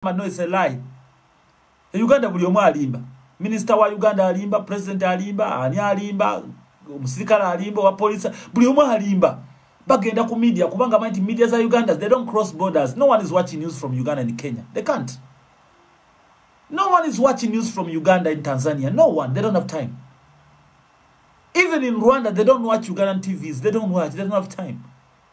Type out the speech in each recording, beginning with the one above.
Mama, no, it's a lie. E Uganda buli omu alimba. Minister wa Uganda alimba, president alimba, ani alimba, omusirikale alimba, wa police, buli omu alimba. Bagenda ku media kubanga manti media za Uganda, they don't cross borders. No one is watching news from Uganda and Kenya. They can't. No one is watching news from Uganda and Tanzania. No one. They don't have time. Even in Rwanda, they don't watch Ugandan TVs. They don't watch. They don't have time.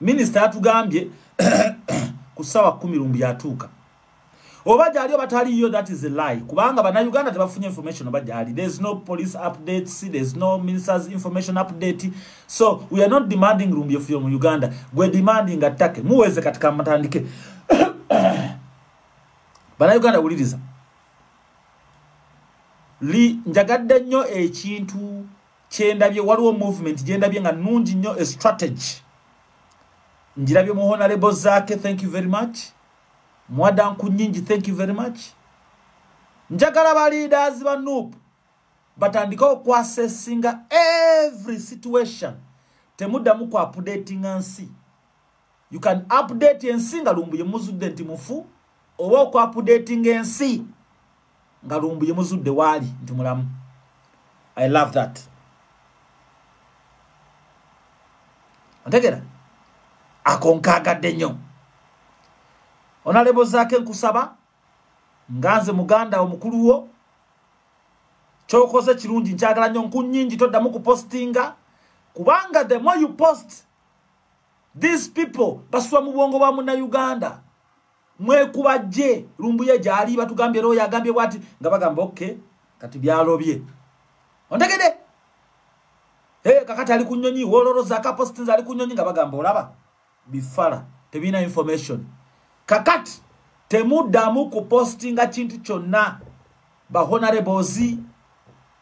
minisita yatugambye ku ssaawa kumi lumbu yatuuka oba gyali oba taliyo that is a lie kubanga banauganda tebafunye information oba gyali there is no police updates there is no ministers information update so we are not demanding lumbu efuyo mu uganda gwe demanding attake muweze katika matandike banauganda wuliriza njagadde nnyo ekintu kyendabye waliwo movement gyendabye nga nungi nnyo e strategy njirabye mu honalebo zaake thank you very much mwadanku nyingi thank you very much njagala ba leaders ba nup batandike okwasesinga every situation temuddamu ku updatinga nsi you can update ensi nga lumbuye muzudde nti mufu oba okuapudating ensi nga lumbuye muzudde waali nti mulamu i love that otegera ako nkaagadde nnyo onalebo zaake nkusaba nga nze muganda omukulu wo kyokoze kirungi nkyagala nnyo nkunyingi toddamu kupostinga kubanga the more you post these people basula mu bwongo bwa muna uganda mwekuba je lumbuye gyali batugambye royo agambye bwati nga bagamba ok kati byalobye ontegede hey, kakati ali kunyonyi woloroza akapostinza ali kunyonyi nga bagamba olaba bifala tebina information kakati temuddamu kupostinga kintu kyonna bahonareboozi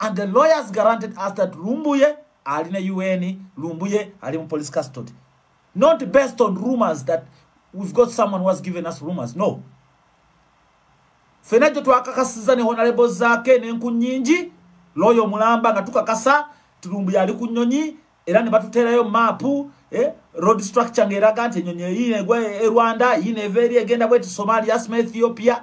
and the lawyers guaranteed us that lumbuye ali na un lumbuye ali mu police custody not based on rumors that we've got someone who has given us rumors no fena gye twakakasiza ne honalebo zaake nenku nyingi looyo omulamba nga tukakasa tulumbu yali ku nyonyi era ne batuteerayo maapu eh, road structure ng'eraga nti enyonyi eyiina egwa e, e rwanda yiina eva eri egenda bweti somalia asma ethiopia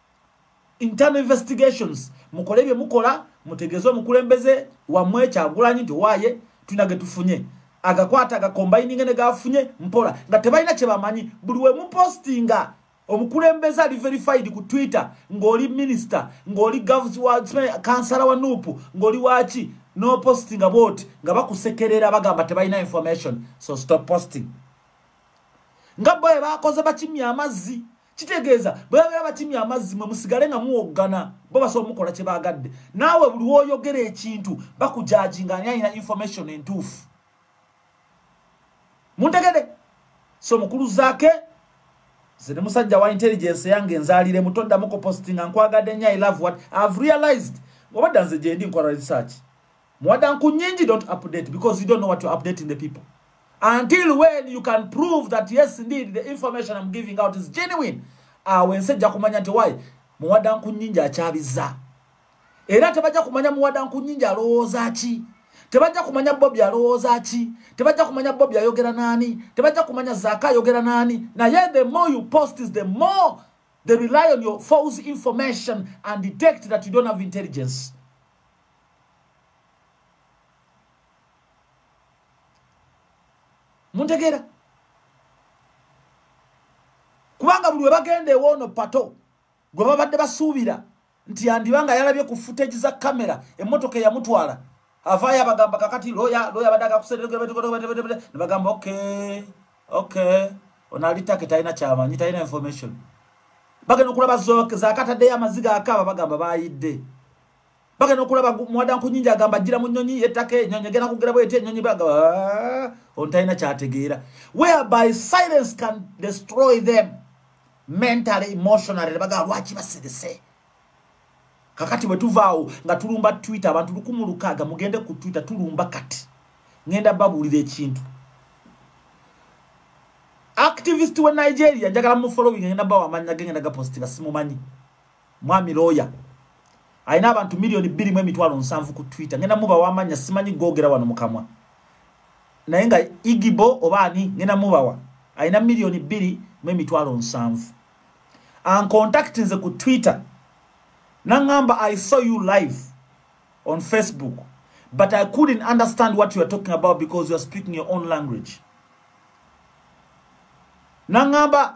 internal investigations mukole bye mukola mutegeze omukulembeze wamwe kyagulanyi nti waye tulina getufunye agakwata agakombayininge ne gafunye mpola nga tebalina kyebamanyi buli wemupostinga omukulembeze ali verified ku twitter ng'oli minister ng'oli govs wa kansala wa nupu ng'oli waki no postinga bwoti nga bakusekerera bagamba tebalina information so stop posting nga boye bakoze bakimya amazzi kitegeeza bwe babeera bakimya amazzi mwe musigale nga muwoggana bo basobola omukola kye baagadde naawe buli woyogera ekintu bakujaji nga ani alina information entuufu muntegede so mukulu zaake ze ne musajja wa intelligence yange enzaalire muto ddamu kupostinga nkwagadde nnyo i love what ihave realized obadda nze gyendi nkola research Mwadanku nyingi don't update because you don't know what you're updating the people. Until when you can prove that yes indeed the information I'm giving out is genuine. Awe ah, nsejja kumanya nti why Mwadanku nyingi akyabiza. Era tebajja kumanya Mwadanku nyingi alowooza ki. Tebajja kumanya Bobby alowooza ki. Tebajja kumanya Bobby ayogera nani. Tebajja kumanya Zaka ayogera nani. Na yet the more you post is the more they rely on your false information and detect that you don't have intelligence. muntegeera kubanga buli webagenda ewoono pato gwe babadde basuubira nti yandiba nga yalabye ku footage za kamera emmotoka eyamutwala avaayo abagamba kakati loya loya abadde agakuseebagamba ok ok ono ali take talina kyamanyi talina information bagenda okulaba zakataddeyo amaziga akaaba bagamba bayidde bagenda okulaba mwadanku nyingi agamba jira mu nyonyi yetaka enyonyi egenda kugera bweti enyonyi baga ah, ontalina kyategeera whereby silence can destroy them mentally emotionally nebagaa lwaki basirise kakati bwetuvaawo nga tulumba twitter abantu lukumu lukaaga mugende ku twitter tulumba kati ngenda babuulira ekintu activist we nigeria njagala mufollowing ngenda bawa amanya gengenda gapostinga simumanyi mwami looya alina abantu miliyoni bbiri mu emitwalo nsanvu ku twitter ngenda mubawa amanya simanyi googera wano mukamwa naye nga igibo oba ani ngenda mubawa alina miliyoni bbiri mu emitwalo nsanvu ankontakti nze ku twitter nangamba i saw you live on facebook but i couldn't understand what youare talking about because youare speaking your own language nangamba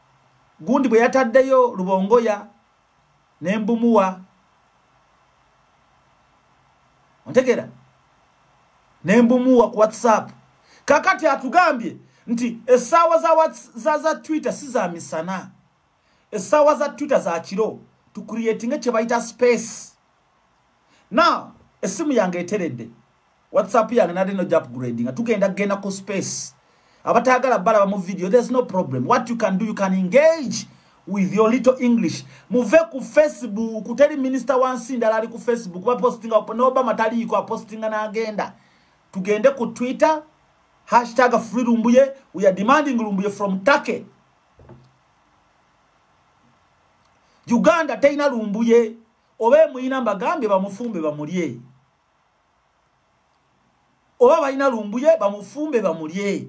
gundi bwe yataddeyo lubongoya ne mbumuwa ontegera ne mbumuwa ku whatsapp kakati atugambye nti essaawa za, za, za twitter si za misana essaawa za twitter za kiro tucreatinge kye bayita space now esimu yange eteredde whatsapp yange nali no jap grading tugenda genda ku space abatagala balaba mu video there's no problem what you can do you can engage with your little english muve ku facebook kuteri minister wansi ndala ali ku facebook ba posting up no obama tali ko posting na agenda tugende ku twitter hashtag free lumbuye we are demanding lumbuye from turkey uganda teyina lumbuye oba emuyina mbagambye bamufumbe bamulye oba balina lumbuye bamufumbe bamulye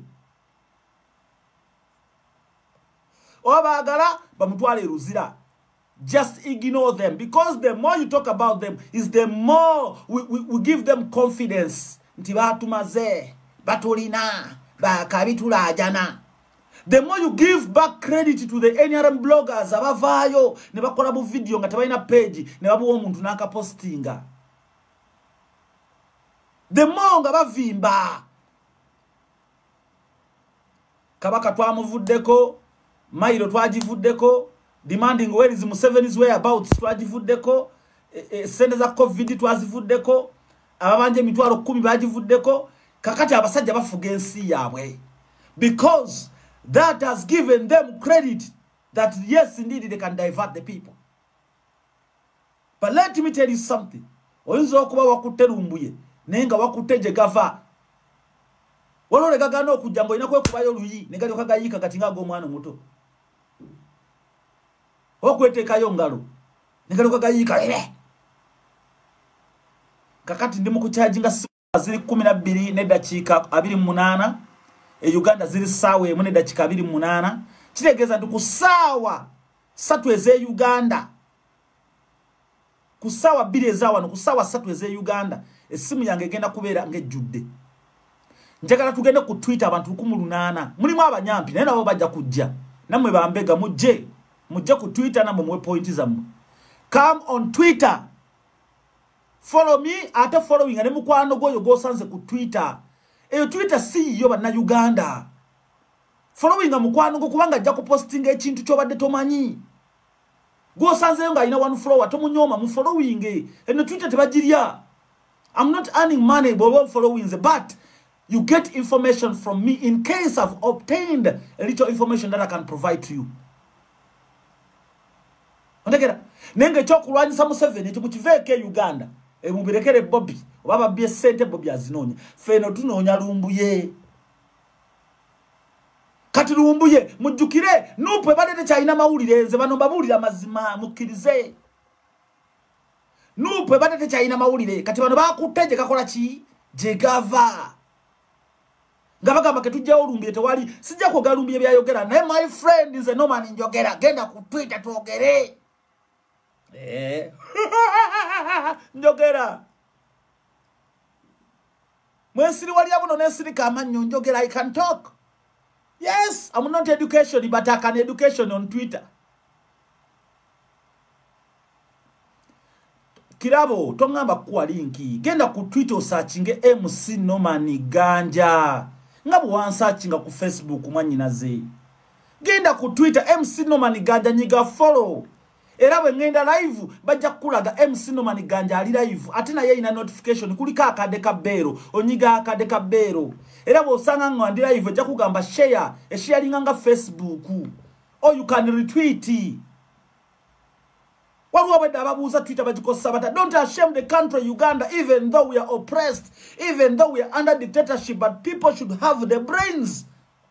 oba baagala bamutwale eruzira just ignore them because the more you talk about them is the more we, we, we give them confidence nti batumaze batulina bakabitulajana the more you give back credit to the nrm bloggers abavaayo ne bakola bu video nga tebalina page ne babuwa omuntu n'akapostinga the more nga bavimba kabaka twamuvuddeko mailo twagivuddeko demanding where is Museveni's whereabouts twagivuddeko e, e, sente za covid twazivuddeko ababanja emitwalo kumi bagivuddeko kakati abasajja bafuga ensi yaabwe because that has given them credit that yes indeed they can divert the people but let me tell you something oyinza okuba wakutte lumbuye naye nga wakutte gye gava waliwo legagana okujja ngaolina kwekubayo luyi negaliokagayiika kati nga ag'omwana omuto okwetekayo ngalo negaloka gayiika ere kakati ndi mukukyaji nga ziri kumi na bbiri nedakiika abiri munaana e uganda ziri saawa emu nedakiika abiri munaana kitegeeza nti ku saawa satu eze uganda ku ssaawa bbiri eza wano ku ssaawa ssatu ez'e uganda essimu yange egenda kubeera ng'ejjudde njagala tugende ku twitter abantu lukumu lunaana mulimu abanyampi naye nabo bajja kujja nammwe bambega mujje mujje ku twitter nammwe muwe pointi zammwe come on twitter follow me ate following ne mukwano gwoyo gwosanze ku twitter eyo twitter si yiyo bannauganda following mukwano gwo kubanga ajja kupostinga ekintu kyobadde tomanyi gwosanzeyo nga alina one flower tomunyooma mu following eno twitter tebagirya i'm not earning money bwoba followings but you get information from me in case i've obtained a little information that i can provide to you ontegera naye nga ekyokulwanyisa museveni nti mukiveeko e uganda e mubirekere bobi oba babbye sente bobi azinoonya feeno tunoonya lumbuye kati lumbuye mujjukire nupu ebadde tekyalina mawulire nze bano mbabuulira mazima mukkirize nupu ebadde tekyalina mawulire kati bano bakutte gye gakola ki gye gava nga bagamba ketujjawo olumbire tewali sijja kwogera lumbire byayogera naye my friend nze noman njogera genda ku twitter twogere eh. njogera mwensiriwalira buno nensirika amannyo njogera i can talk yes am not education but i can education on twitter kirabo tongamba kukuwa linki genda ku twitter osakinge mc noman ganja nga bwewansakinga ku facebook mwanyinaze genda ku twitter mc noman ganja nyiga follow era bwe ŋŋenda live bajja kukulaga mc noman ganja ali live ate naye erina notification kuliko akade ka beero onyiga akade ka beero era bw'osanga nga ndi live ojja kugamba share esharinga nga facebook o oh, you can retweet waliwo abadde ababuuza twitter bagikozesa bata don't ashame the country uganda even though we are oppressed even though we are under dictatorship but people should have the brains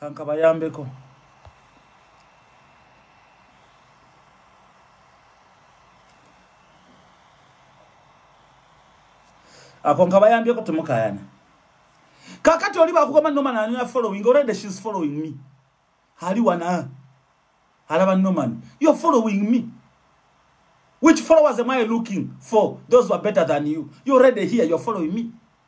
kankabayambeko ako nkabayambeko temukayana kakati oli bakugamba noman anina following already shes following me ali wana alaba noman you're following me which followers am i looking for those who are better than you you're already here you're following me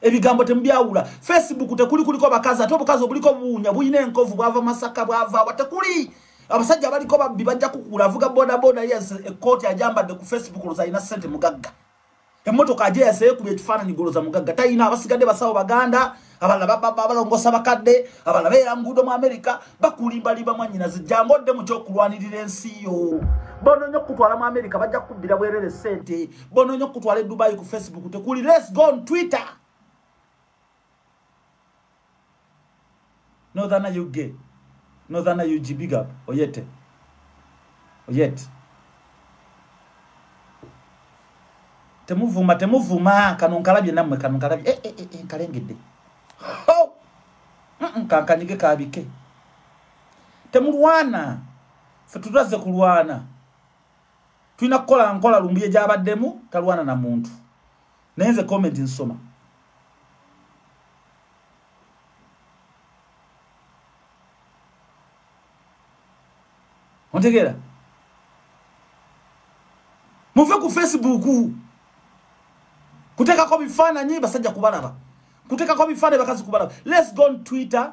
ebigambo temubyawula facebook tekuli kuliko bakazi ate obukazi obuliko obuwunya bulina enkovu bwava masaka bwava wa tekuli abasajja abaliko babbi bajja kukula avuga bodaboda yes ekkooti ajambadde ku facebook oloza alina sente mugagga emmotoka aje yaseyekuba ekifaananyi goloza mugagga talina abasigadde basawo baganda abalala balongosa bakadde abalala beera muguudo mu amerika bakulimbalimba mwanyinazi jangu odde mu kyokulwanirira ensi yo bononya okukutwala mu amerika bajja kukubbira bwerere sente bononyo kutwala e dubai ku facebook tekuli let's go on twitter northern ug northern ug big up oyete oyet temuvuma temuvuma kano nkalabye namwe kano nkalabye eh, eh, eh, eh nkalengedde oh! mm -mm, kankanyige kabike temulwana fe tutazze kulwana tulina kukola nkola lumbuye gyabaddemu talwana na muntu naye nze comment nsoma ontegeera muve ku facebook kuteekako bifaananyi basajja kubalaba kuteekako bifaananyi bakazi kubalaba let's go on twitter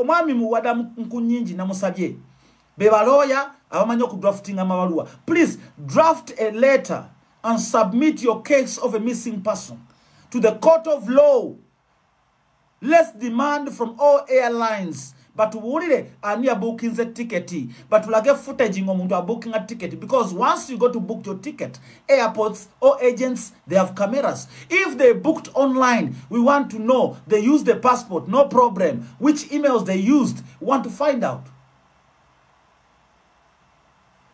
omwami muwada nkunyingi namusabye bebalooya abamanyi okudraftinga amabaluwa please draft a letter and submit your case of a missing person to the court of law less demand from all airlines batubuulire ani yabuukinze tiketi batulage footage ngaomuntu abuukinga tiketi because once you go to book your ticket airports or agents they have cameras if they booked online we want to know they use the passport no problem which emails they used we want to find out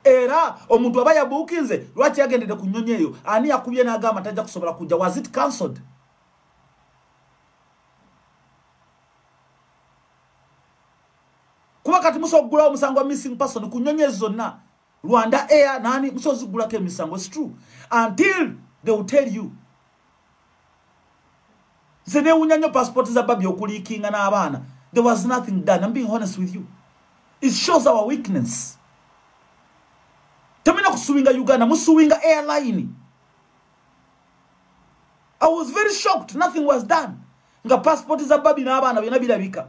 era omuntu aba yabuukinze lwaki yagendedde ku nnyonyi eyo ani yakubye n'agamba tajja kusobola kujja was it cancelled kuba kati musobola okuggulawo omusango wa missing person ku nnyonyi ezo zonna Rwanda Air nani musozi gulako emisango it's true until they will tell you nze newunya nnyo passport za babi okuliikinga n'abaana there was nothing done I'm being honest with you it shows our weakness temulina kusuwinga uganda musuwinga airline i was very shocked nothing was done nga passport za babi n'abaana byona birabika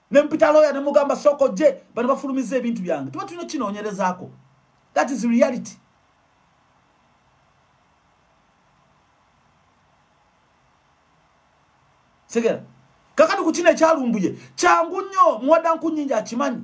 ne mpita lawyer ne mugamba soko je bano bafulumiza ebintu byange tuba tulina kinoonyerezaako that is reality segera kakati ku kino ekyalumbuye kyangu nnyo muwada nkunyingi akimanyi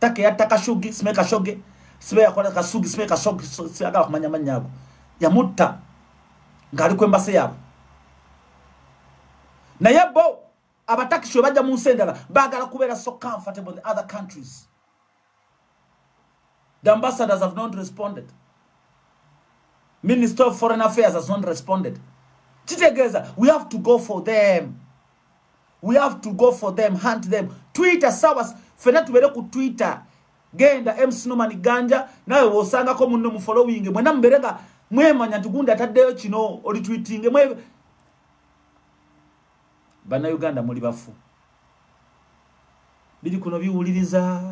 take yatta kashugi sime kashoge sibe yakola kasugi sime kashoge siyagala kumanya mannya ago yamutta ng'ali ku embase yaabwe naye bo abatakisi we bajja mu nsi endala baagala kubeera so comfortable the other countries the ambassadors have not responded minister of foreign affairs has not responded kitegeeza we have to go for them we have to go for them hunt them twitter sawa fena tubere ku twitter genda MC Norman Ganja nawe wosangako munno mu following mwena mubere nga mwemanya tugunda taddeyo kino oli tweeting mwe bana Uganda muli bafu bili kuno biwuliriza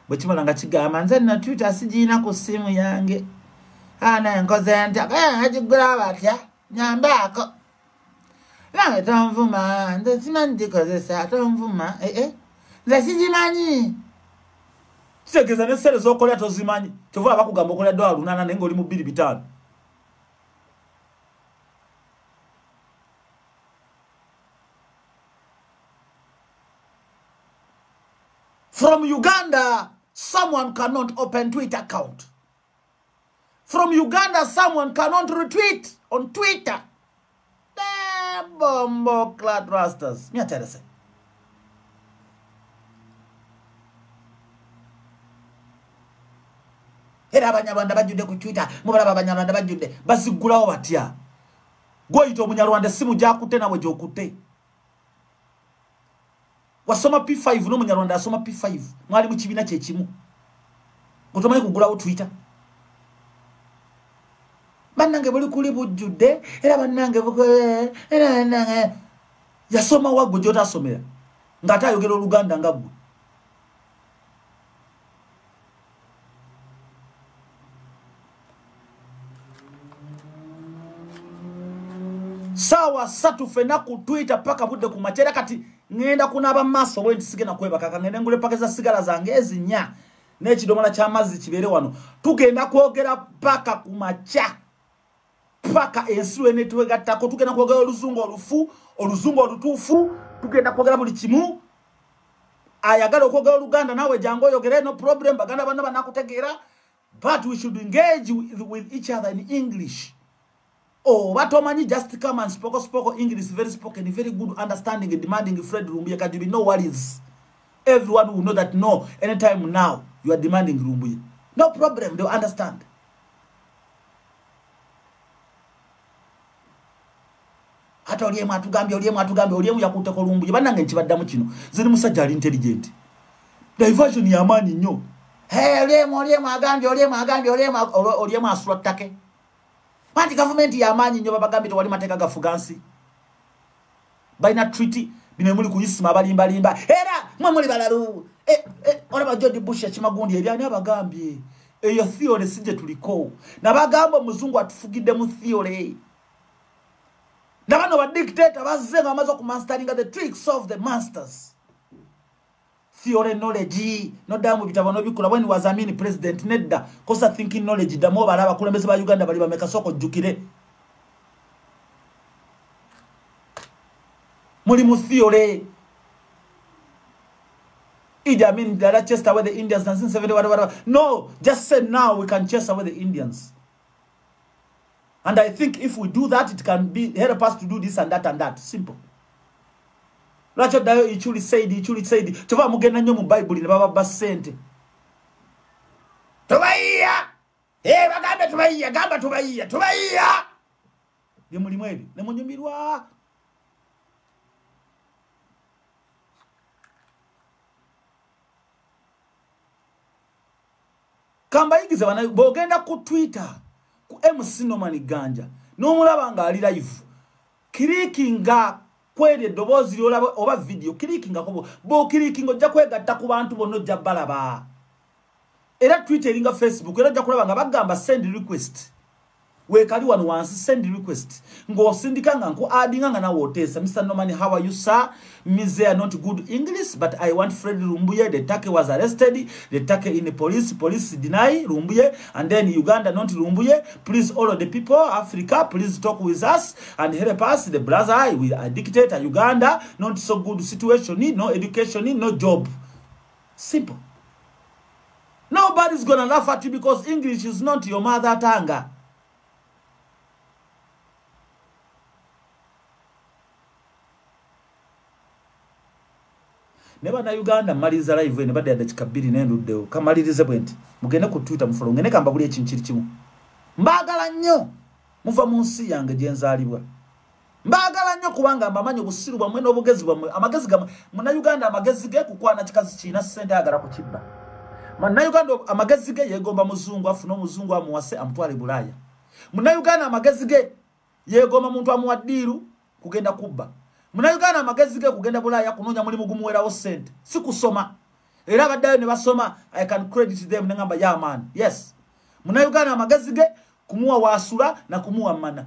bwe kimala nga kigamba nze na twitter sigiina ku ssimu yange ana enkoze ntya eh, agigula batya nyambaako nange tonvuma nze simanyi gikozesa tonvuma ee eh, eh. nze sigimanyi kitegeeza nesere zokola tozimanyi kyova abakugamba okola dola lunana naye ngaoli mu bbiri bitaano from uganda someone cannot open twitter account from uganda someone cannot retweet on twitter bombo clad rasters me tell you era abanyarwanda bajjudde ku twitter mubalaba abanyarwanda bajjudde baziggulawo batya gwoyita omunyarwanda essimu gyakutte nawe gyokutte wasoma p5 n'omunyarwanda asoma p5 mwali mu kibiina kyekimu otomanyi kugulawo twitter bannange buli kuli bujjudde era bannange eh, eh. yasoma waggo gyotasomera ng'ate ayogera oluganda nga ggwe saawa satu fena ku twitter paka budde ku makyera kati ŋenda kunaaba maaso bwe nti sigenda kwebaka kaŋende ngule paka za sigala zange ezinya n'ekidomola ky'amazzi kibeere wano tugenda kwogera paka ku makya paka ensi lwenetwegattako tugenda kwogera oluzungu olufu oluzungu olutuufu tugenda kwogera buli kimu ayagala okwogera oluganda naawe jangu oyogere no problem baganda banna banakutegeera but we should engage with, with each other in english oba oh, tomanyi just come and spoko spoko english very spoken very good understanding demanding fred lumbuye kati be no worries everyone will know that no anytime now you are demanding lumbuye no problem they understand ate olyemu atugambye olyemu atugambye olyemu yakutteko lumbuye bannange nkibaddamu kino ziri musajja ali intelligent diversion yamaanyi nnyo olyemu olyemu agambye olyemu agambye olyemu asula ttake anti gavumenti yamaanyi nnyo babagambye tewali mateeka gafuga nsi balina treaty bino muli kuyisima abalimbalimba era mwe muli balalu e, e, olaba george bush yakimagundi ebyani abagambye eyo theory si gye tuliko nabagamba omuzungu atufugidde mu theory nabano badictator bazze nga bamaze okumanstaringa the tricks of the masters theory knowledge noddayo mu bitabo nobikula when was amini president nedda kosa thinking knowledge ddamu obala abakulembeze ba uganda bali bamekasooka ojjukire muli mu theory Idi Amin, the other chased away the Indians, 1970, whatever, whatever. No, just say now we can chase away the Indians. And I think if we do that, it can be help us to do this and that and that. Simple. Lwaki oddayo ichuli said ichuli said kyova mugenda nnyo mu bayibuli ne bababba ssente tubayiya eh, bagambe tubayiya gamba tubayiya tubayiya bye mulimu ebyo ne munyumirwa kambayigiza bana bogenda ku twitter ku mc noman ganja n'omulaba ng'ali live kirikinga kweri eddoboozi lyolaba oba vidiyo kirikingako bokirikinga ojja kwegatta ku bantu bonna ojja balaba era twitter eringa facebook era ojja kulaba nga bagamba send request wekali wano wansi send request ng'osindika nga nku adinga nga nawe oteesa mr norman how are you sir mise are not good english but i want fred rumbuye the take was arrested the take in the police police deny rumbuye and then uganda not rumbuye please all of the people africa please talk with us and help us the brother i will dictate uganda not so good situation no education no job simple Nobody's gonna laugh at you because English is not your mother tongue. ne bannayuganda mmaliriza live eno badde yadde kika bbiri nenduddewo kamalirize bwe nti mugende ku twitter mufolo ngende kamba buli ekintu kiri kimu mbaagala nnyo muva mu nsi yange gye nzaalibwa mbagala nnyo kubanga mbamanyi obusiru bwammwe n'obugezi bwammwe amagezi gamwe munauganda amagezi ge kukwana kikazi kirina ssente ayagala ku kibba munauganda amagezi ge yeegomba muzungu afuna omuzungu amuwase amutwale bulaaya munauganda amagezi ge yeegomba muntu amuwa ddiiru kugenda kubba munauganda amagezi ge kugenda bulaaya kunoonya mulimu gumuwerawo ssente si kusoma era abaddayo ne basoma i can credit them nengamba yamaani yes munauganda amagezi ge kumuwa waasula na kumuwa mana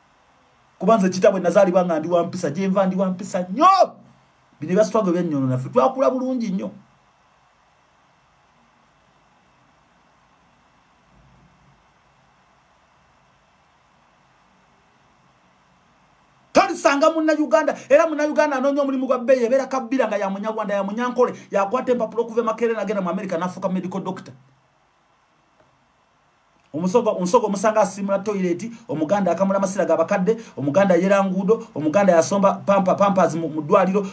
kuba nze kitabwe nazaalibwa nga ndi wampisa gyenva ndi wampisa nnyo bino ebyasitwago ebyenyono naffe twakula bulungi nnyo tolisanga munnauganda era munnauganda anoonya omulimu gwa bbeeyi ebeera kabbira nga yamunyarwanda yamunyankole yakwata empapula okuva emakerere nagenda mu amerika nafuuka medical doctor omusogo omusogo omusanga asimula toilet omuganda akamula masira ga bakadde omuganda yera ngudo omuganda yasomba pampa pampers mu dwaliro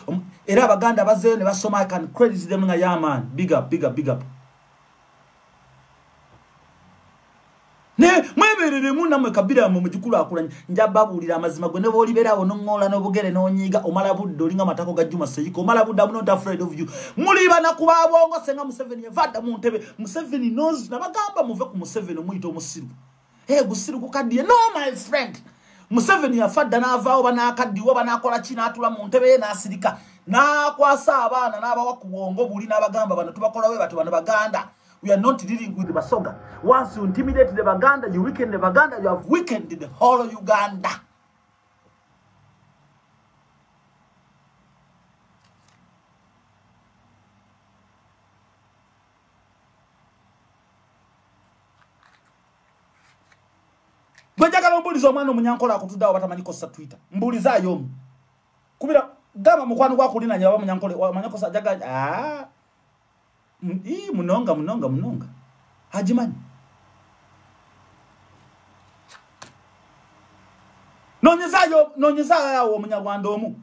era abaganda bazeyo ne basoma i can credit them nga yeah man big up big up big up ne mweberere mu namwe kabira mu mujukulu akulanya njababulira amazima gwe ne boli berawo no ngola no bugere no nyiga omala budde olinga matako ga juma seyiko omala budde amuno ta afraid of you muli bana kuba bongo senga museveni yavada mu ntebe museveni knows nabagamba muve ku museveni omuyita omusiru hey, gusiru gukaddiye no my friend museveni yafa dda n'avaawo banakaddiwa banakola ki n'atula mu ntebe ye n'asirika n'akwasa abaana n'abawa ku bwongo buli n'abagamba bano tubakolawe bati bano baganda we are not dealing with basoga once you intimidate the baganda you weaken the baganda you have weakened the whole uganda gwe njagala ombuuliza omwana omunyankola akutudde awo batamanyi kosa twitter mbuuliza ayo omu kubira gamba mukwano gwakulinanya baba munyankole amanya kosa jaga ah i munonga munonga munonga hajimanyi nonyeza yo nonyeza yawo omunyarwanda omu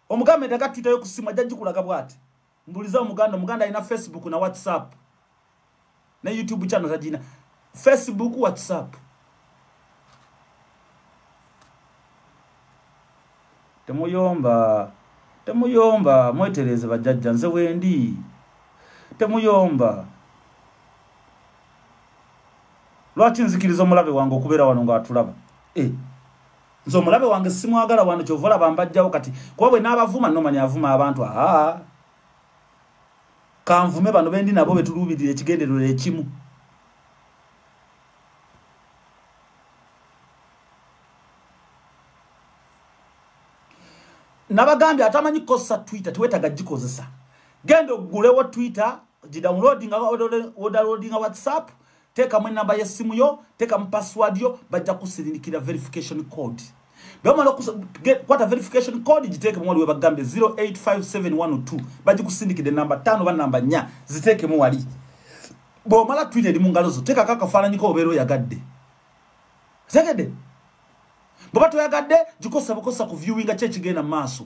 omugambe daga twitter yo kusima jajikulaga bwati mbuliza omuganda omuganda alina facebook na whatsapp ne youtube channel tagina facebook whatsapp temuyomba temuyomba mwetereze bajajja nze wendi temuyomba lwaki nzikiriza omulabe wange okubeera wano ngaatulaba e eh. nze omulabe wange simwagala wano kyova olaba mbajjawo kati kuba bwe n'abavuma nomani avuma abantu aa kanvume bano bendi nabo betuluubirira ekigenderero ekimu nabagambye atamanyi kukozesa twitter tiwetaga gikozesa genda ogulewo twitter gidownloadinga wodalodinga whatsapp teekamu enamba y'essimu yo teekamu password yo bajja kusirindikira verification code bwemala okukwata verification code giteekemu wali webagambe 085712 bagikusindikidde namba 5 oba namba 4 ziteekemu wali bwomala twita eri mu ngalo zo teekako akafaananyiko obeera oyagadde zegede bweba toyagadde gikosa bukosa ku viewinga ki ekigenda mu maaso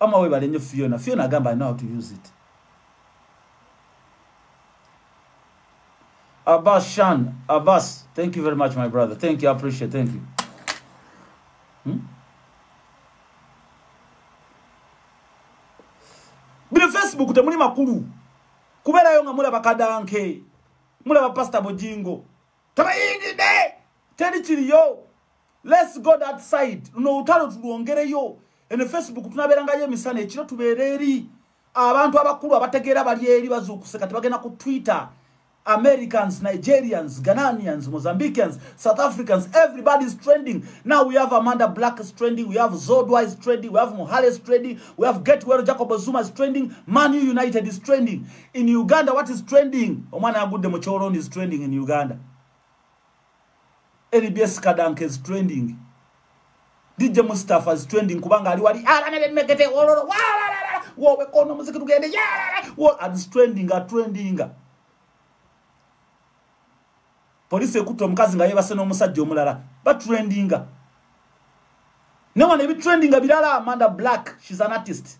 ama webale nnyo fiona fiona agamba i know how to use it abbas shan abbas thank you very much my brother thank you i appreciate thank you hmm? bino facebook temuli makulu kubeerayo nga mulaba kadanke mulaba pasita bujingo tebayingidde teri kiriyo let's go that side luno olutalo tulwongereyo ene facebook tunabeerangayo emisana ekiro tubeera eri abantu abakulu abategeera bali eri bazuukuse kati bagenda ku twitter americans nigerians ghananians mozambicans south africans everybody is trending now we have amanda black is trending we have zodwa is trending we have mohale is trending we have gatewell jacob zuma is trending manu united is trending in uganda what is trending omwana agudde mu cholon is trending in uganda nbs kadanka is trending dj mustafa is trending kubanga ali wali alana bemegete wololo wowe kono muziki tugende is trending a trending polisi ekutte omukazi nga yebase n'omusajja omulala batrendinga newano ebitrendinga birala amanda black shes an artist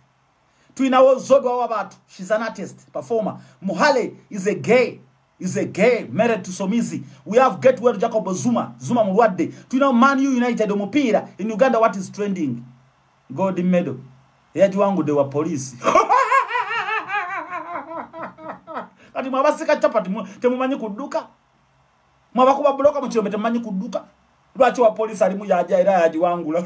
tulinawo zodwawo abantu shes an artist performer muhale is a gay is a gay married to somizi we have get well jacob zuma zuma mulwadde tulina man u united omupiira in uganda what is trending gold medal eyagiwangudde wa poliisi kati mwabasika chapati temumanyi kudduka mwabakuba buloka mukirombe temumanyi kudduka lwaki wa poliisi alimu yaja era yagiwangula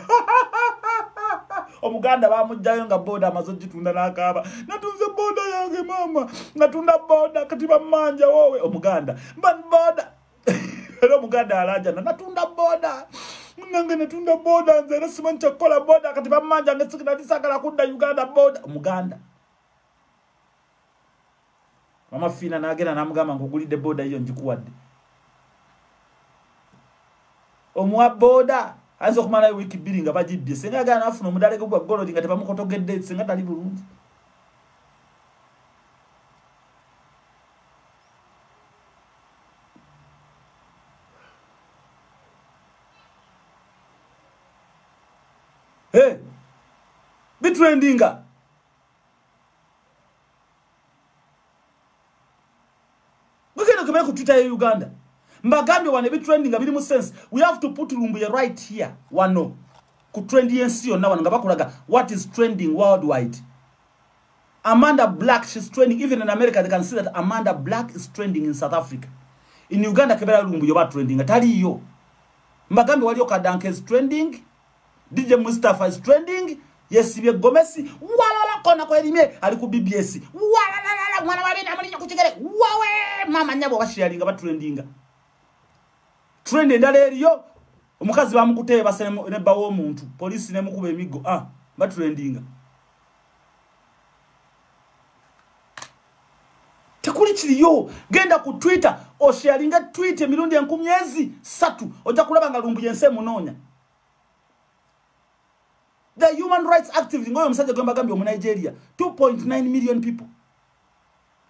omuganda bamugjayo nga boda amaze ogitunda nakaaba natunze boda yange maama natunda boda kati bamanja wowe omuganda boda era omuganda alajana natunda boda nange natunda boda nze era simanyi kyakukola boda kati bamanja nge sikinalisagala kudda uganda boda omuganda mama fiina nagenda namugamba nkugulidde boda yiyo njikuwadde omuwa boda ayinza okumalayo wiiki bbiri nga bagibbye singa agala nafuna omudaleke gwa golodi nga tebamukotogedde singa tali bulungi bitrendinga hey. mugenda okebere ku twitter ya uganda mbagambye wano ebitrending nga biri mu sense we have to put lumbuye right here wano ku trend yensi yonna wano nga bakulaga what is trending worldwide amanda black she's trending even in america they can see that amanda black is trending in south africa in uganda kebera lumbuye oba trending ataliyo mbagambye waliyo kadanka is trending DJ Mustafa is trending yesibye gomesi walala kona kwa elimye ali ku BBS walala mwana wa bina mwana kuchigere wawe mama nyabo bashialinga ba trendinga trend endale eriyo omukazi bamukuteye basene ne bawo omuntu police ne mukube emigo ah ba trendinga tekuli kiriyo genda ku twitter osharinga tweet emirundi enkumyezi satu oja kulaba nga lumbu yense munonya the human rights activist ngoyo omusajja gwe mbagambye omu nigeria 2.9 million people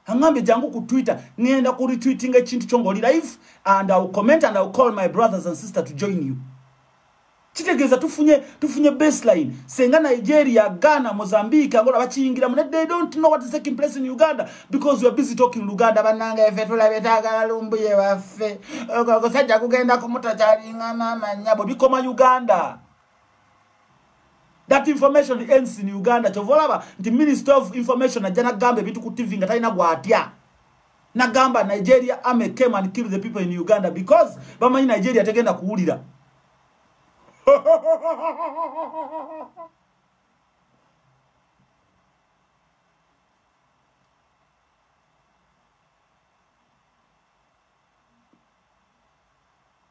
angambye jangu ku twitter ngenda ku retweetinga ekintu kyo ngaoli live and iwill comment and iwill call my brothers and sister to join you kitegeeza tufunye tufunye baseline senga nigeria ghana mozambique angola bakiyingiramu ne they don't know what is taking place in uganda because we're busy talking luganda bananga efe tulabe tagala lumbuye waffe ogosajja kugenda kumuta kyalinga mama nyabo bikoma uganda that information ends in uganda kyova olaba nti minister of information ajja nagamba ebintu ku tv nga talina gwatya nagamba nigeria army came and killed the people in uganda because bamanyi nigeria tegenda kuwulira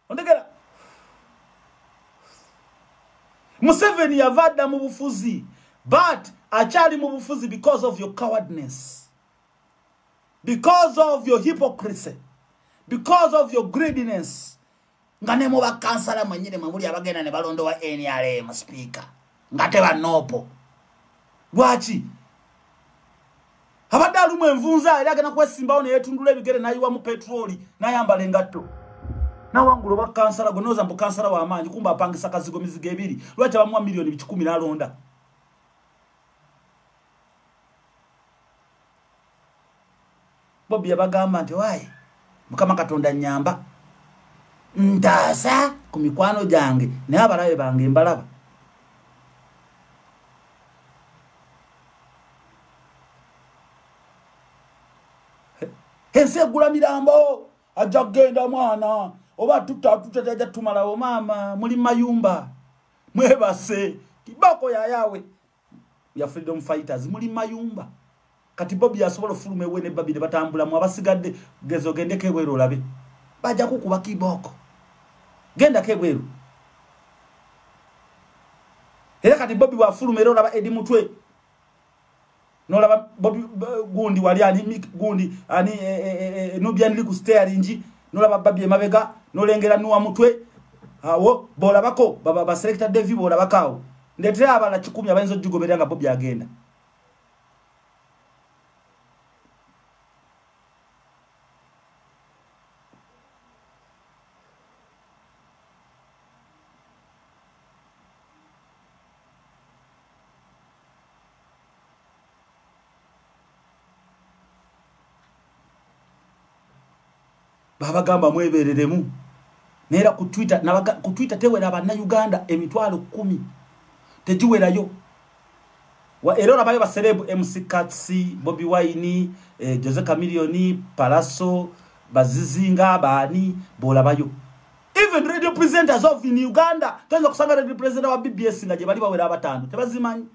ondegera museveni yava adda mu bufuzi but akyali mu bufuzi because of your cowardness because of your hypocrisy because of your greediness nga ne mu bakansala mwenyini mwe muli abagenda ne balondowa nrm sipiika nga tebanoopo lwaki abadde alumu envunza era agenda kwesimbawo neyetundula ebigere nayiwamu petroli nayambala engatto nawangula oba kansala gwe noza mbu kansala wamaanyi kumba apangisa kazigo mizigo ebiri lwaki abamuwa miliyoni bikikumi nalonda bobi yabagamba nti wayi mukama katonda nyamba ntaasa ku mikwano gyange naye abalabe bange mbalaba ensi egula mirambo ajja kugenda mwana oba tutatuteteja tumalawo maama muli mayumba mwebase kibako yayawe ya freedom fighters muli mayumba kati bobi asobola ofuluma ewe ne babi ne batambula mu abasigadde gezo gende kebwero olabe baja kukuba kiboko genda kebwero era kati bobi wa fuluma era olaba edi mutwe nolaba bobi gundi wali ani mik gundi ani e, e, e, e, nubian liku steering nolaba babi emabega nolengera nuwa mutwe awo bolabako baba ba selector devi bolabakawo ndetera abana kikumi abayinza ogigoberera nga bobi agenda babagamba mwebereremu neera ku twitter ku twitter tewera bannauganda emitwalo kumi tegiwerayo era olabayo baserebu mc cats bobi wine eh, jose camilioni palaso bazizinga abaani bolabayo even radio presenters of in uganda toyinza kusanga radio presenter wa bbs nga gye bali bawera abataano tebazimanyi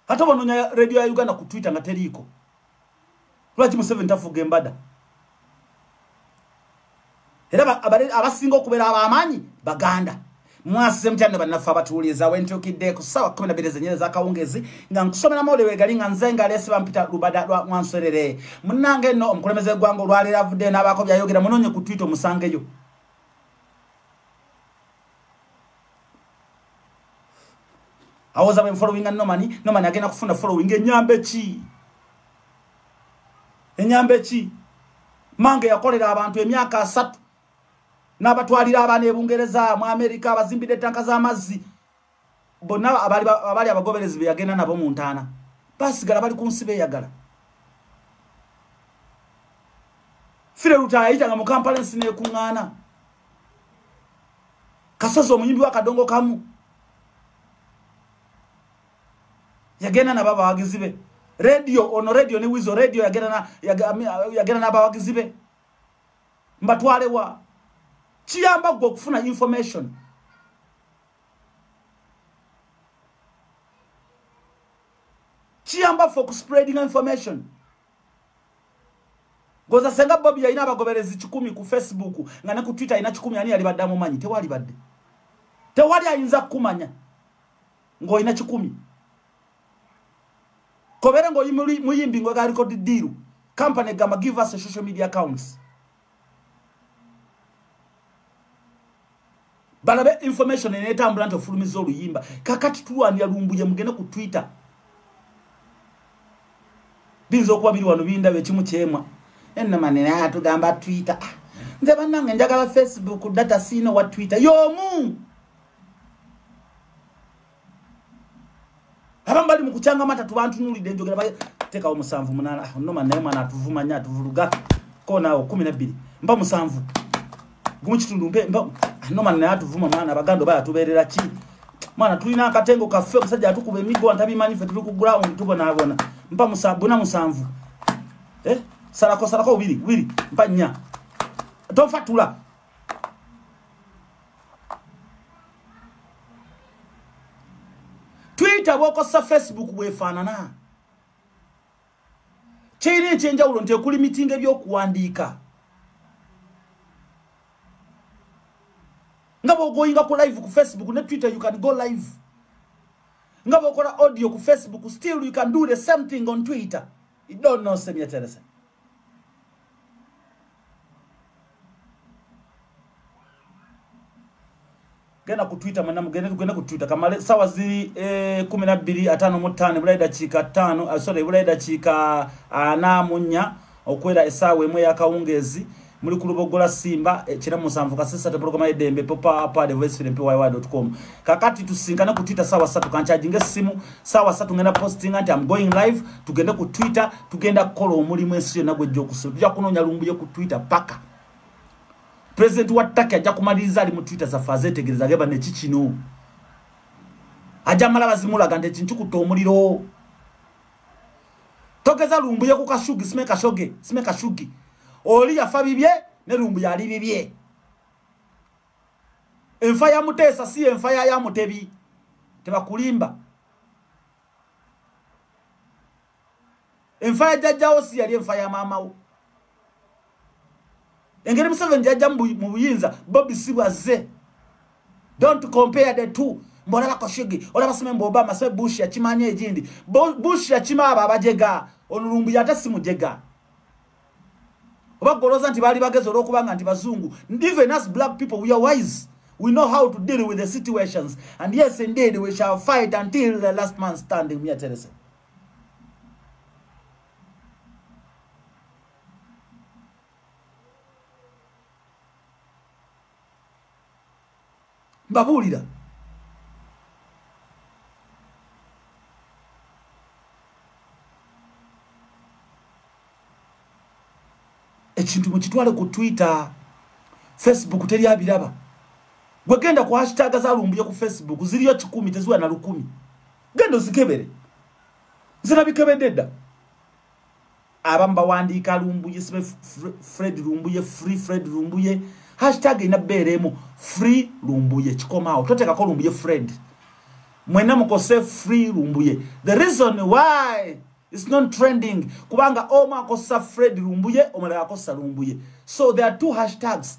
ate obanoonya radio ya uganda ku twitter nga teriiko lwaki museveni tafuga embada era abasinga okubeera abamaanyi baganda mwasize mutya ne bannaffe abatuwuliriza wentukidde ku ssaawa kumi nabiri zenyere zakawungezi nga nkusomera mawulire wegali nga nze nga leesi bampita lubada lwa mwanserere munnange nno omukulembeze gwanga olwaleero avuddeyo n'abaako byayogera munoonye ku twita omusangeyo awoza bwe followinga nomani nomani agenda kufuna following enyambe ki enyambe ki mange yakolera abantu emyaka asatu n'abatwalira abaana ebungereza mu amerika abazimbidde etanka z'amazzi bonna abali abagoberezi be yagenda nabo mu ntaana basigala bali ku nsi beyagala fire luta yayitanga mu kampala ensi nekuŋŋaana kasozi omuyimbi wa kadongo kamu yagenda nabo abawagizi be radio ono radio ne wizo radio yagenda n'abawagizi be mbatwalewa kiyamba gwe okufuna information kiyamba fe okuspreadinga information goza senga bobi yalina abagoberezi kikumi ku facebook nga ne ku twitter alina kikumi ani yali badde amumanyi tewali badde tewali ayinza kukumanya ng'olina kikumi kobere ng'oyi muyimbi ng'ogaliko didiiru company gamba give us a social media accounts balabe information enetambula nti ofulumiza oluyimba kakati tulwanira lumbuye mugende ku twitter biyinza okuba biri wano bindaba ekimu kyemwa enamanenatugamba twitter ah, nze banange njagala facebook data siina wa twitter yomu abamu bali mukucanga amata tubantunulidde njogera batekawo musanvu munana ah, noma naye mwana atuvuma nyo atuvuluga konawo kumi nabbiri mba musanvu gumu kitundu mpe mba ah, noma naye atuvuma mwana abaganda oba yatubeerera ki mwana tulina akatengo kaffe omusajja atukuba emigo antabimanyi ffe tuli ku gulawundi tubonabona mpa bona musanvu eh? salako salako bubiri bubiri mpa nnya tofatula twitter bwokosa facebook bwefaanana kirina ekyenjawulo nti ekuli mitinga ebyokuwandiika nga bwogoyinga ku live ku facebook ne twitter you can go live nga bwokola audio ku facebook still you can do the same thing on twitter you don't know semyeterese genda ku twitter mwena mugende tugende ku twitter kamale sawa ziri eh, kumi na bbiri ataano mu ttaano ebulayi dakiika ttaano ah, sorry ebulayi dakiika ana ah, munya okwera esaawa emu eyakawungeezi muri ku rubuga rwa simba eh, kira musanvu kasisa te porogaramu y'idembe popa apa de voice film pywa dot com kakati tusinkana ku twitter sawa satu kancaginga essimu sawa satu ngenda posting anti am going live tugende ku twitter tugenda kukola omulimu ensi yonna gwejja okusula tujja kunoonya lumbuye ku twitter paka president wa taki ajja kumaliriza ali mu twitter zaffe azeetegereza geba neki kino ajja mala bazimulaga nti ekintu kutta omuliro togeza lumbuye ku kashugi sime kashoge sime kashugi oli yafa bibye ne lumbuye ali bibye enfa ya muteesa si enfa ya ya mutebi tebakulimba enfa ya jajjawo si yali enfa ya maamawo engeri museveni jajja mu buyinza bobi si bwazze don't compare the two mbolaba koshigi olaba sime mbu obama se bush yakimanya egindi bush yakima abo abajega olulumbu yate simujega oba goloza nti baali bagezi olwokubanga nti bazungu even as black people we are wise we know how to deal with the situations and yes indeed we shall fight until the last man standing miaterese mbabuulira ekintu mukitwale ku twitter facebook teri abiraba gwegenda ku hashtag zalumbuye ku facebook ziriyo kikumi teziwa na lukumi genda ozikebere nze nabikebedde dda abamu bawandiika lumbuye sibe fred lumbuye free fred lumbuye hashtag ina beera emu free lumbuye kikomaawo toteekako lumbuye fred mwena mukose free lumbuye the reason why its not trending kubanga omu akosa fred lumbuye omulala akosa lumbuye so there are two hashtags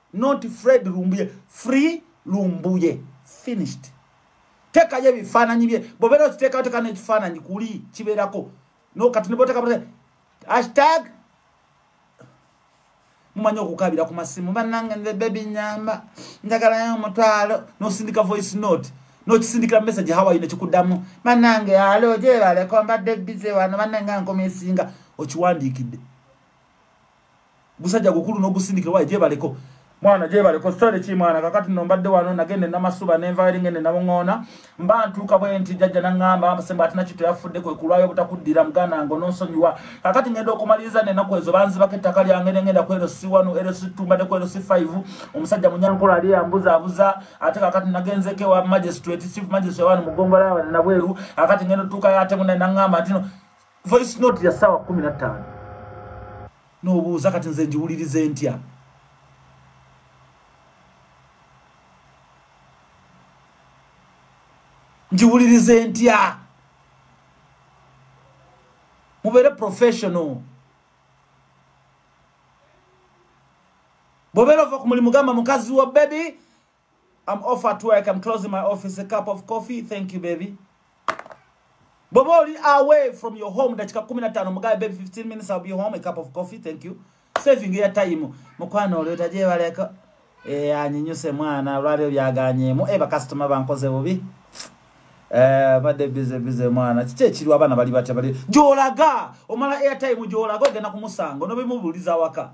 not fred lumbuye free lumbuye finished tekayo ebifaananyi bye bobeera okiteekawo teka nekifaananyi kuli kibeerako no kati neboteka hashtag mumanyi okukabira ku masimu banange nze bebi nyamba njagalayo omutwalo nosindika voice note nokisindikira message hawaii nekikuddamu banange alo gyebaleko mbadde bize wano banange ankomesinga okiwandiikidde gusajja gukulu n'ogusindikira wayi gyebaleko mwana gyebaleko sitole ki mwana kakati no mbadde wano nagende namasuba nenvaeri ngende namuŋoona mba ntuuka bwe nti jajja naŋŋamba semba ati nakyo teyafudde kwe kulwayo obutakuddira muganda ngo nonsonyiwa kakati ngenda okumaliriza nenaku ezo banzibako ettaka lyange nengenda kwero si wano ero situmbadde kwero si five omusajja munyankolo ali yambuzaabuza ate kakati nagenzeko ewa magistrate chief magistrate wano mugongola wano nabweru kakati ngenda otuukayo ate mune naŋŋamba ntino voice note ya sawa 15 no buza kati nze njiwulirize ntya njiwulirize ntya mubere professional bobera ova kumulimu gamba mukazi wa baby I'm off at work. I'm closing my office. A cup of coffee. Thank you, baby. Boboli away from your home. Dachika kumi na tano. Mga baby 15 minutes. I'll be home. A cup of coffee. Thank you. Saving your time. Mkwano uli utaje waleko. E anyinyuse mwana. Ulari uyaganye. Mu eba customer bankoze bubi. Eh, bade bize bize mwana. Chiche chiru wabana bali bacha bali. Jolaga. Omala airtime jolaga. Gena kumusango. Nobe mubuliza waka. Jolaga.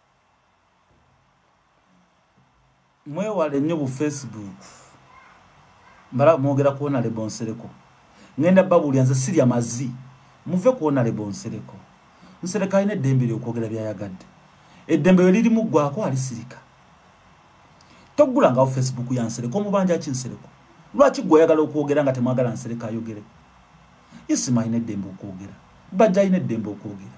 mwewale nnyo bu facebook mbala mwogera kuwona lebonsereko ngenda babulya nze sirya mazi muve kuwona lebonsereko nsereka alina eddembe lyokwogera byayagadde eddembe we lirimu ggwako alisirika togulangawo facebook ya nsereko omubanja ki nsereko lwaki gwe oyagala okwogera nga temwagala nsereka ayogere isimaina eddembe okwogera bajja alina eddembe okwogera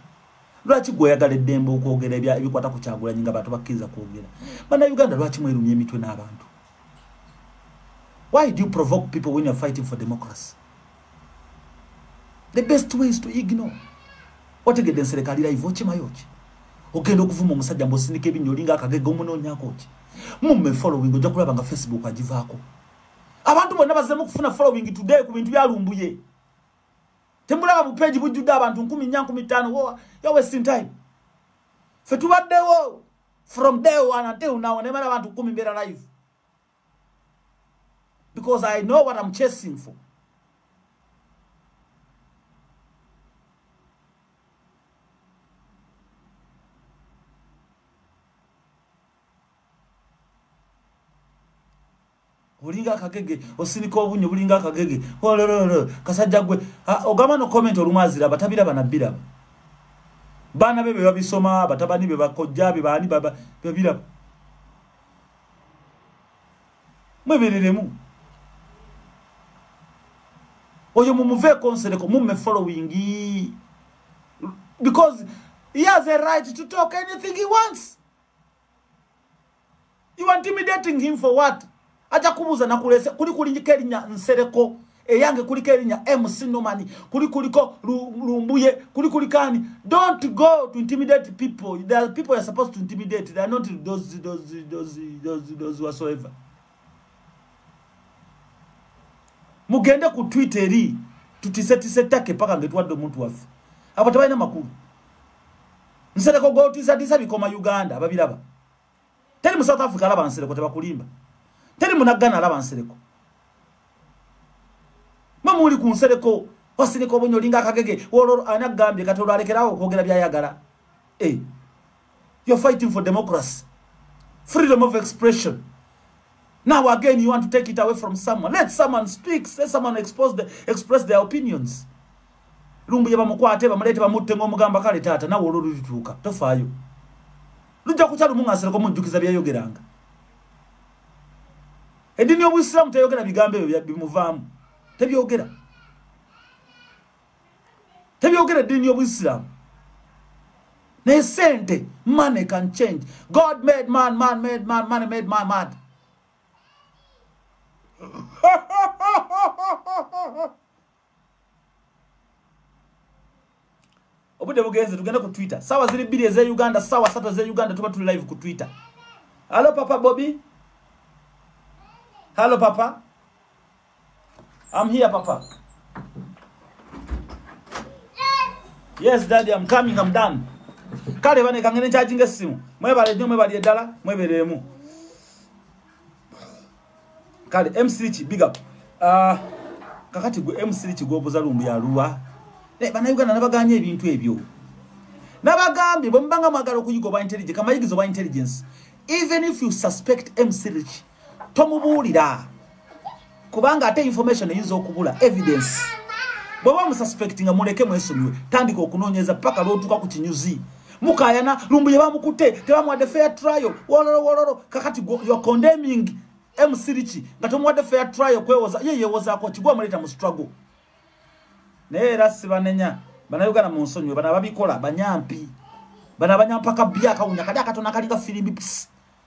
lwaki gwe oyagala eddembe okwogera ebikwata ku kyagulanyi nga bantu bakkiriza kwogera bana uganda lwaki mwerumya emitwe n'abantu why do you provoke people when you're fighting for democracy the best way is to ignore otegedde nsereka ali live okimayo ki ogenda okuvuma omusajja mbu osindika ebinnyo olinga akagega omunoonyako ki mumme following ojja kulaba nga facebook agivaako abantu bonna bazemu okufuna following today ku bintu byalumbuye temulaba bupeji bujjudde abantu nkumi nya nkumi ttaano wowa yo wasting time fe tubaddewo from day one until now nemala abantu kumi mbeera live because i know what am chasing for olinga akagege osinika obunyo bulinga akagege olololo kasajja gwe ogamba no comment olumu aziraba tabiraba nabiraba baana be bebabisoma batabani be bakojja be baani baba bebiraba mwebereremu oyo mumuve konsereko mume following because he has a right to talk anything he wants you are intimidating him for what aja kubuza na kulese kuli kuli kelinya nsereko eyange kuli kelinya MC Nomani kuli kuli ko lumbuye kuli kuli kani don't go to intimidate people there are people are supposed to intimidate they are not those those those those those whatsoever mugende ku Twitter ri tutise tise take paka ngetwa do muntu wafu abatabana makuru nsereko go tisa tisa bikoma Uganda babiraba teri mu south africa alaba nsereko tebakulimba teri munaggana alaba nsereko mwe muli ku nsereko wasirika obonyi olinga akagege olwo ani agambye kati olwo alekerawo okwogera byayagala e eh, yo fighting for democracy freedom of expression now again you want to take it away from someone let someone speak let someone expose the, express their opinions lumbuye bamukwate bamuleete bamutte ng'omugamba kale taata nawe olwo lulituuka tofaayo lujja kutya lumu ng'asereko mujjukiza byeyayogeranga eddiini y'obusiraamu teyogera bigambo ebyo bimuvaamu tebyogera tebyogera eddiini y'obusiraamu naye sente money can change god made man man made man money made my mad obudde bugenze tugende ku twitter sawa ziri bbiri eze uganda sawa satu eze uganda tuba tuli live ku twitter hallo papa bobi hallo papa am here papa yes daddy am coming am done kale bane kangene charging esimu mwebale nyo mwebali edala mwebereemu kale mcki big up uh, kakati gwe mcki gwobuza lumbu yaluwa eh, banauganda nabaganye ebintu ebyo nabagambye bwemubanga mwagala okuyiga oba intelligence kamayigiza oba intelligence even if you suspect mcki tomubuulira kubanga ate information eyinza okubula evidence bwaba omususpect nga muleke mwesonyiwe tandika okunoonyeza paka lwotuuka ku kinyuzi mukayana lumbuye bamukutte tebamuwadde fair trial wololo wololo kakati you're condemning mcdiki nga tomuwadde fair trial kwewoza ye yewozaako kigwa omuleeta mu struggle naye era sibanenya banauganda mu nsonyiwe bana babikola banyampi bana banyampaka bya akawunya kali akatona kali ka firimbi pisi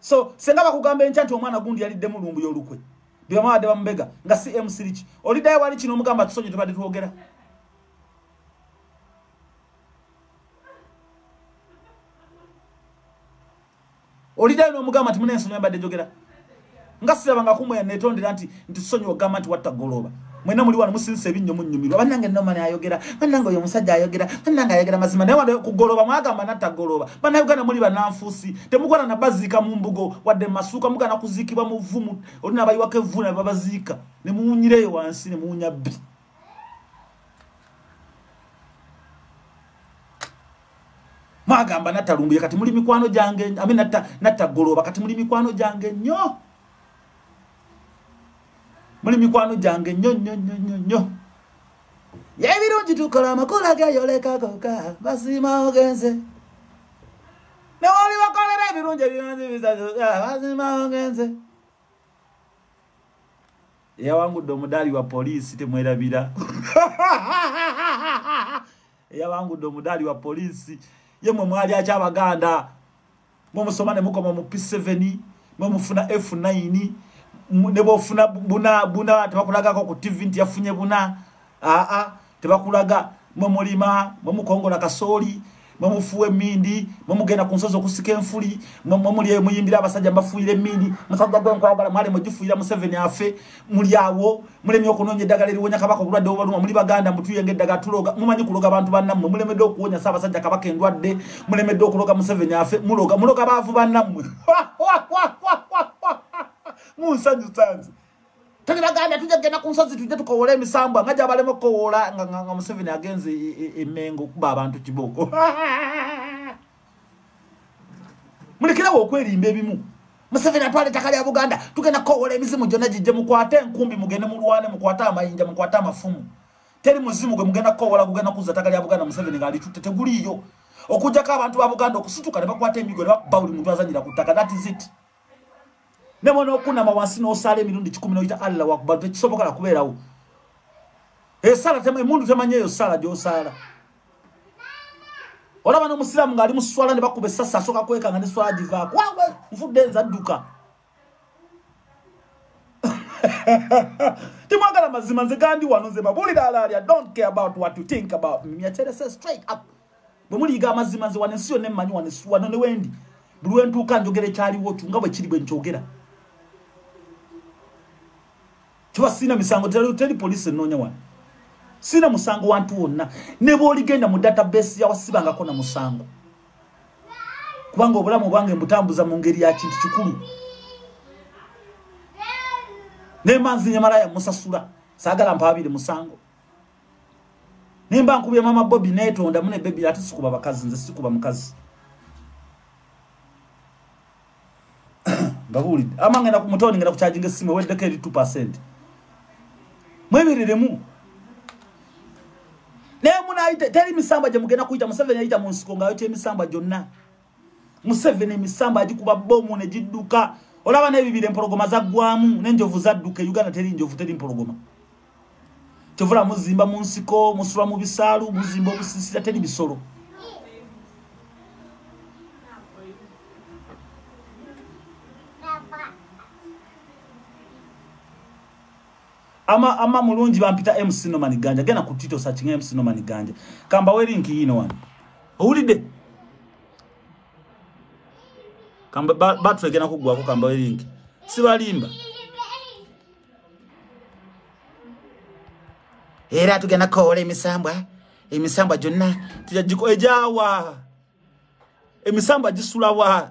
so senga bakugamba enkya nti omwana gundi yaliddemu lumbu yolukwe byebamabadde bamubega nga si msiriki oliddayo wali kino omugamba tusonyi tubadde twogera oliddayo nomugamba nti munensonyi abadde jogera nga siraba nga kumwe yanetondera nti nti sonyi ogamba nti watta goloba mwena muli wano musinse ebinnyo munyumirwa banange nomani ayogera banange oyo omusajja ayogera banange ayogera mazima naye wade kugoloba mwagamba natta goloba bana uganda muli bananfuusi temugwana nabaziika mu mbugo wadde masuuka mugana kuziikibwa muvumu oli nabayiwako evvuuna babaziika nemuwunyireyo wansi nemuwunya bbi mwagamba nattalumbuye kati muli mikwano gyange ame nattagolooba kati muli mikwano gyange nnyo muli mikwano gyange nnyo nnyo nnyo nnyo nnyo yebirungi tukola amakula geyolekagoka basima ogenze newoli bakolera ebirungi ebirungi bisatu basima ogenze eyawangudde omudaali wa poliisi temwerabira eyawangudde omudaali wa poliisi ye mwe mwali aky abaganda mwe musoma ne mukoma mu p7 mwe mufuna f9 ne bwofuna buna buna tebakulagako ku tv nti yafunye buna aa tebakulaga mwe mulima mwe mukongola kasooli mwe mufuwa emindi mwe mugenda ku nsozi okusika enfuli mwe muli muyimbira abasajja mbafuuyira emindi musajja gwe nkwagala mwali mugifuuyira museveni afe muli awo mulemi okunoonya eddagala eriwonya kabaka obulwadde obaluma muli baganda mutuyenga eddagala tuloga mumanyi kuloga bantu bannammwe mulemedde okuwonya sa abasajja kabaka endwadde mulemedde okuloga museveni afe muloga muloga baavu bannammwe munsanyusanze tuli baganda tujja kugenda ku nsozi tujje tukowole emisambwa nga gyabalema okukowoola nga museveni agenze emengo e, e, okuba abantu kibooko mulekerawo okwerimba ebimu museveni atwala ettaka lya buganda tugenda kukowoola emizimu gyonna gijje mukwate enkumbi mugende mulwane mukwate amayinja mukwate amafumu teri muzimu gwe mugenda kukowoola gugenda kuzza ettaka lya buganda museveni ngaalitutte teguliiyo okujjako abantu ba buganda okusituka ne bakwata emigo ne bakuba buli muntu azanyira ku ttaka that is it nebo nokunama wansi nosaala emirundi kikumi noyita allah wakubalu tekisoboka nakubeerawo esala emundu temanya eyo sala gyosaala olaba nomusiraamu ngaali muswala ne bakuba esasi asooka kwekanga ne swala givaako wawe nfudde enza dduka timwagala mazima nze gandi wano nze babulira alaalya don't care about what you think about me myaterese straight up bwe muliyiga amazima nze wano ensi yonna emmanyi wano ensi wano ne wendi buli wentuuka njogera ekyaliwo kyo nga bwe kiri bwe nkyogera kiba siina misango teri poliisi ennoonya wano siina musango wantu wonna ne bwoligenda mu database yawasibangako na musango kubanga obulamu bwange mbutambuza mu ngeri ya kintu kikulu nemanzi nyamalaya musasula sagala mpabire musango naye mba nkubye mama bobi netonda mune bebi ate sikuba bakazi nze sikuba mukazi ngabuulidde ama ngenda ku mutoni ngenda kukyajinga essimu eweddeko eri 2 percent mwebereremu naye munayite teri misamba gye mugenda kuyita museveni yayita mu nsiko ng'ayokya emisamba gyonna museveni emisamba agikuba bomu negidduka olaba nebibira empologoma zaggwamu nenjovu zadduka e uganda teri njovu teri mpologoma kyovula muzimba mu nsiko musula mu bisaalu muzimba obusisira teri bisolo ama ama mulungi bampita MC Norman Ganja gena ku Tito searching MC Norman Ganja kamba we link yino wan owulide kamba battery gena kugwa ko kamba we link sibalimba era tugenda kowola emisambwa emisambwa gyonna tujagiko ejawa emisambwa gisulawa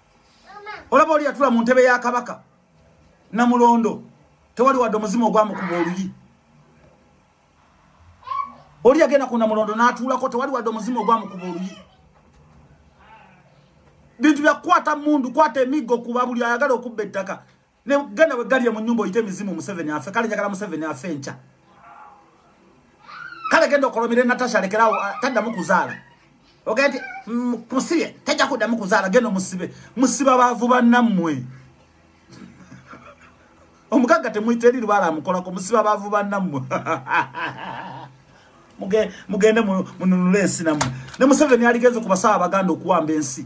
olaba oli yatula mu ntebe ya kabaka namulondo tewali wadde omuzimu ogwamukuba oluyi oli yagenda ku namulondo n'atuulako tewali wadde omuzimu ogwamukuba oluyi bintu byakukwata mundu kwata emiggo kuba buli ayagala okubba ettaka Ne gana we galiya mu nyumba oyite mizimu Museveni afe kale njagala Museveni afe ncha. Kale gendo kolomire Natasha lekerawo ah, tadda mu kuzaala. Ogende mm, kusibe tajja kudda mu kuzaala gendo musibe. Musiba bavu bannamwe. Omugagga temuyite eri lubala amukola ko musiba bavu bannamwe. Muge mugende mu nunule ensi namwe. Ne Museveni aligeze kubasaba baganda okuwamba ensi.